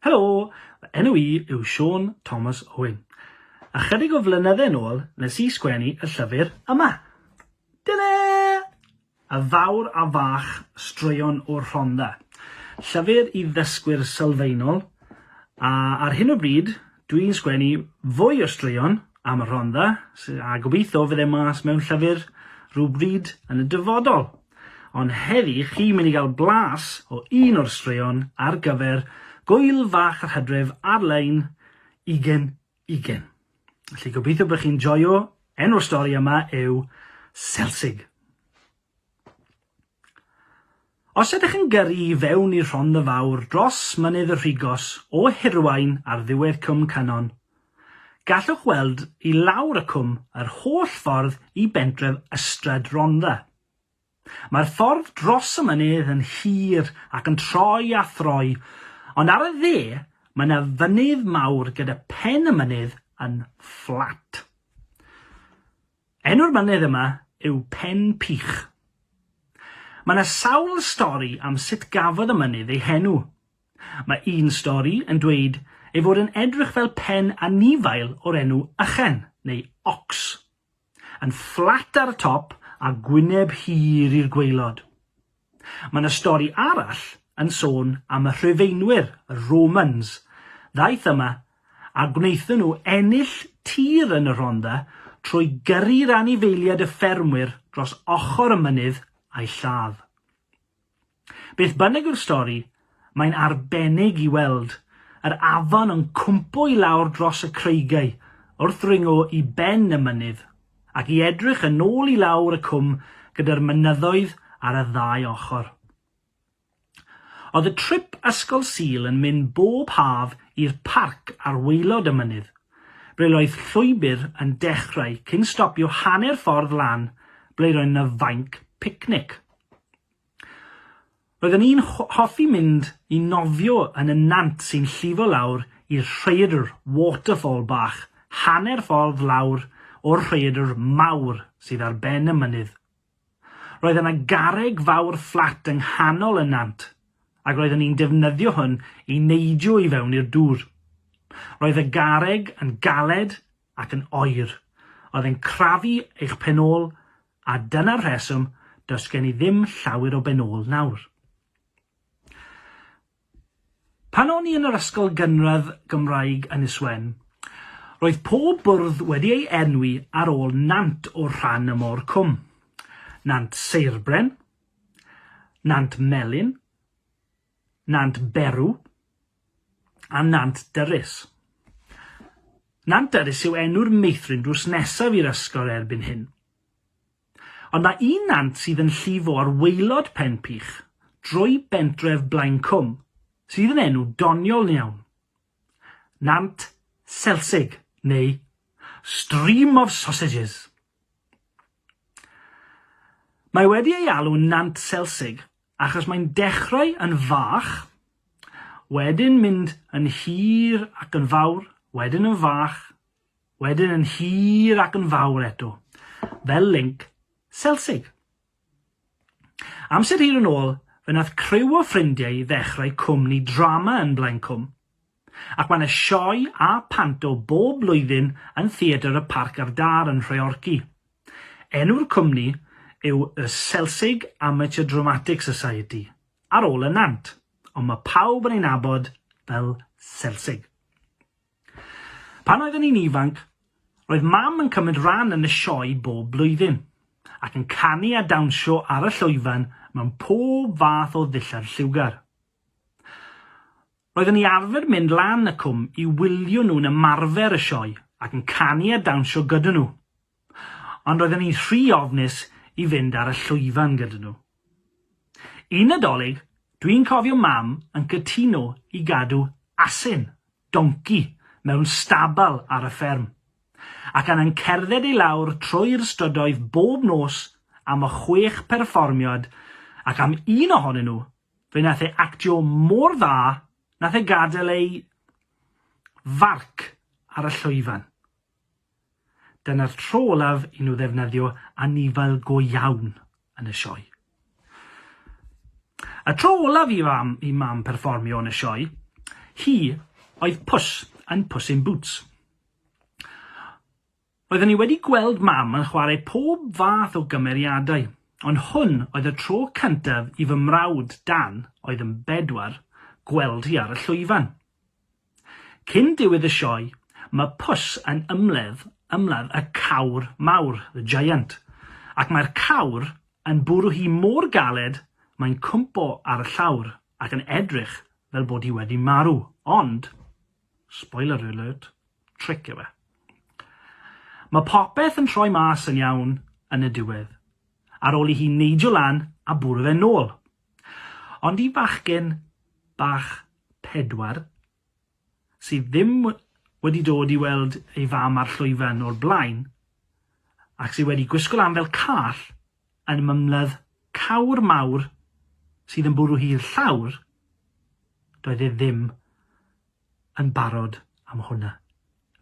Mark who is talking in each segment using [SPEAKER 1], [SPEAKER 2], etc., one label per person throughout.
[SPEAKER 1] Helo, fy enw i yw Siôn Thomas Owen. Ychydig o flynydde yn ôl nes i sgwennu y llyfr yma. Dyna! Y Fawr a Fach, Straeon o'r Rhondda. Llyfr i ddysgwyr sylfaenol, a ar hyn o bryd Dwi'n sgwennu fwy o straeon am y Rhondda, sy- a gobeithio fydd e mas mewn llyfr rhywbryd yn y dyfodol. Ond heddi chi'n mynd i gael blas o un o'r straeon ar gyfer Gŵyl Fach yr Hydref ar-lein ugen ugen. Felly gobeithio bod chi'n joio, enw'r stori yma yw Selsig. Os ydych yn gyrru i fewn i Rhondda Fawr dros Mynydd y Rhigos o Hirwaun ar ddiwedd Cwm Cynon, gallwch weld i lawr y cwm yr holl ffordd i bentref Ystrad Rhondda. Mae'r ffordd dros y mynydd yn hir ac yn troi a throi, ond ar y dde mae yna fynydd mawr gyda phen y mynydd yn fflat. Enw'r mynydd yma yw Pen Pych. Mae 'na sawl stori am sut gafodd y mynydd ei henw. Mae un stori yn dweud ei fod yn edrych fel pen anifail o'r enw ychen, neu ox. Yn fflat ar y top a gwyneb hir i'r gwaelod. Mae 'na stori arall yn sôn am y Rhufeinwyr, y Romans, ddaeth yma a gwnaethon nhw ennill tir yn y Rhondda trwy gyrru'r anifeiliaid y ffermwyr dros ochr y mynydd a'u lladd. Beth bynnag yw'r stori, Mae'n arbennig i weld yr afon yn cwmpo i lawr dros y creigiau wrth ddringo i ben y mynydd, ac i edrych yn ôl i lawr y cwm gyda'r mynyddoedd ar y ddau ochr. Oedd y trip Ysgol Sul yn mynd bob haf i'r parc ar waelod y mynydd, ble roedd llwybr yn dechrau cyn stopio hanner ffordd lan ble roedd 'na fainc picnic. Roedden ni'n hoffi mynd i nofio yn y nant sy'n llifo lawr i'r rhaeadr, waterfall bach, hanner ffordd lawr o'r rhaeadr mawr sydd ar ben y mynydd. Roedd yna garreg fawr fflat yng nghanol y nant, ac roedden ni'n defnyddio hwn i neidio i fewn i'r dŵr. Roedd y garreg yn galed ac yn oer, oedd e'n crafu eich pen-ôl A dyna'r rheswm does gen i ddim llawer o ben-ôl nawr. Pan o'n i yn yr ysgol gynradd Gymraeg Ynys Wen, roedd pob bwrdd wedi ei enwi ar ôl nant o'r rhan yma o'r cwm. Nant Seirbren, Nant Melin, Nant Berw a Nant Dyrys. Nant Dyrys yw enw'r meithrin drws nesaf i'r ysgol erbyn hyn. Ond mae un nant sydd yn llifo ar waelod Pen Pych, drwy bentref Blaencwm, sydd yn enw doniol iawn. Nant Selsig neu Stream of Sausages. Mae wedi ei alw'n Nant Selsig achos mae'n dechrau yn fach, wedyn mynd yn hir ac yn fawr, wedyn yn fach, wedyn yn hir ac yn fawr eto, fel linc selsig. Amser hir yn ôl, fe wnaeth criw o ffrindiau ddechrau cwmni drama yn Blaencwm, ac mae 'na sioe a panto bob blwyddyn yn Theatr y Parc a'r Dâr yn Nhreorci. Enw'r cwmni yw y Selsig Amateur Dramatic Society, ar ôl y nant, ond mae pawb yn ei nabod fel Selsig. Pan oeddwn i'n ifanc, roedd Mam yn cymryd rhan yn y sioe bob blwyddyn, ac yn canu a dawnsio ar y llwyfan mewn pob fath o ddillad lliwgar. Roeddwn i arfer mynd lan y cwm i wylio nhw'n ymarfer y sioe ac yn canu a dawnsio gyda nhw. ond roedden ni'n rhy ofnus i fynd ar y llwyfan gyda nhw. Un Nadolig, dwi'n cofio mam yn cytuno i gadw asyn, donci, mewn stabal ar y fferm, ac anna'n cerdded i lawr trwy'r strydoedd bob nos am y chwech perfformiad ac am un ohonyn nhw, fe nath e actio mor dda nath e gadael ei farc ar y llwyfan. Dyna'r tro olaf i nhw ddefnyddio anifail go iawn yn y sioe. Y tro olaf i fam, i mam perfformio yn y sioe, hi oedd pws yn Puss in Boots. Roeddwn ni wedi gweld mam yn chwarae pob fath o gymeriadau, ond hwn oedd y tro cyntaf i fy mrawd Dan, oedd yn bedwar, gweld hi ar y llwyfan. Cyn diwedd y sioe, mae Puss yn ymladd ymladd y cawr mawr, the giant, ac mae'r cawr yn bwrw hi mor galed mae'n cwmpo ar y llawr ac yn edrych fel bod hi wedi marw, ond, spoiler alert, tric yw e. Mae popeth yn troi mas yn iawn yn y diwedd, ar ôl i hi neidio lan a bwrw fe nôl. Ond i fachgen bach pedwar, sydd ddim wedi dod i weld ei fam ar llwyfan o'r blaen, ac sydd wedi gwisgo lan fel call yn mymladd cawr mawr sydd yn bwrw hi'r llawr, doedd e ddim yn barod am hwnna.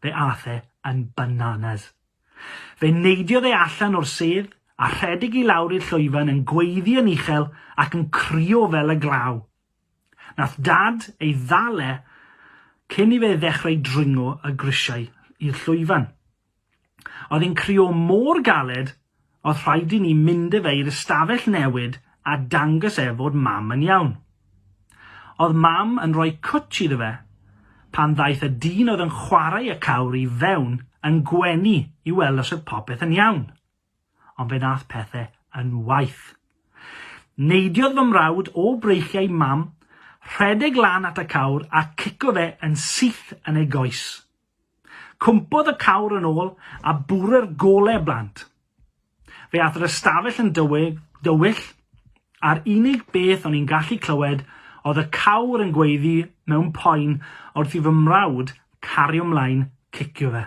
[SPEAKER 1] Fe ath e yn bananas. Fe neidiodd e allan o'r sedd a rhedeg i lawr i'r llwyfan yn gweiddi yn uchel ac yn crio fel y glaw. Nath Dad ei ddal e cyn i fe ddechrau dringo y grisiau i'r llwyfan. Oedd e'n crïo mor galed oedd rhaid i ni mynd â fe i'r ystafell newid a dangos e fod Mam yn iawn. Oedd Mam yn rhoi cwtsh iddo fe pan ddaeth y dyn oedd yn chwarae y cawr i fewn yn gwenu i weld os oedd popeth yn iawn. Ond fe nath pethe yn waeth. Neidiodd fy mrawd o breichiau Mam, rhedeg lan at y cawr a cico fe yn syth yn ei goes. Cwmpodd y cawr yn ôl a bwrw'r golau blant. Fe ath yr ystafell yn dywyll, a'r unig beth o'n i'n gallu clywed oedd y cawr yn gweiddi mewn poen wrth i fy mrawd cario mlaen cicio fe.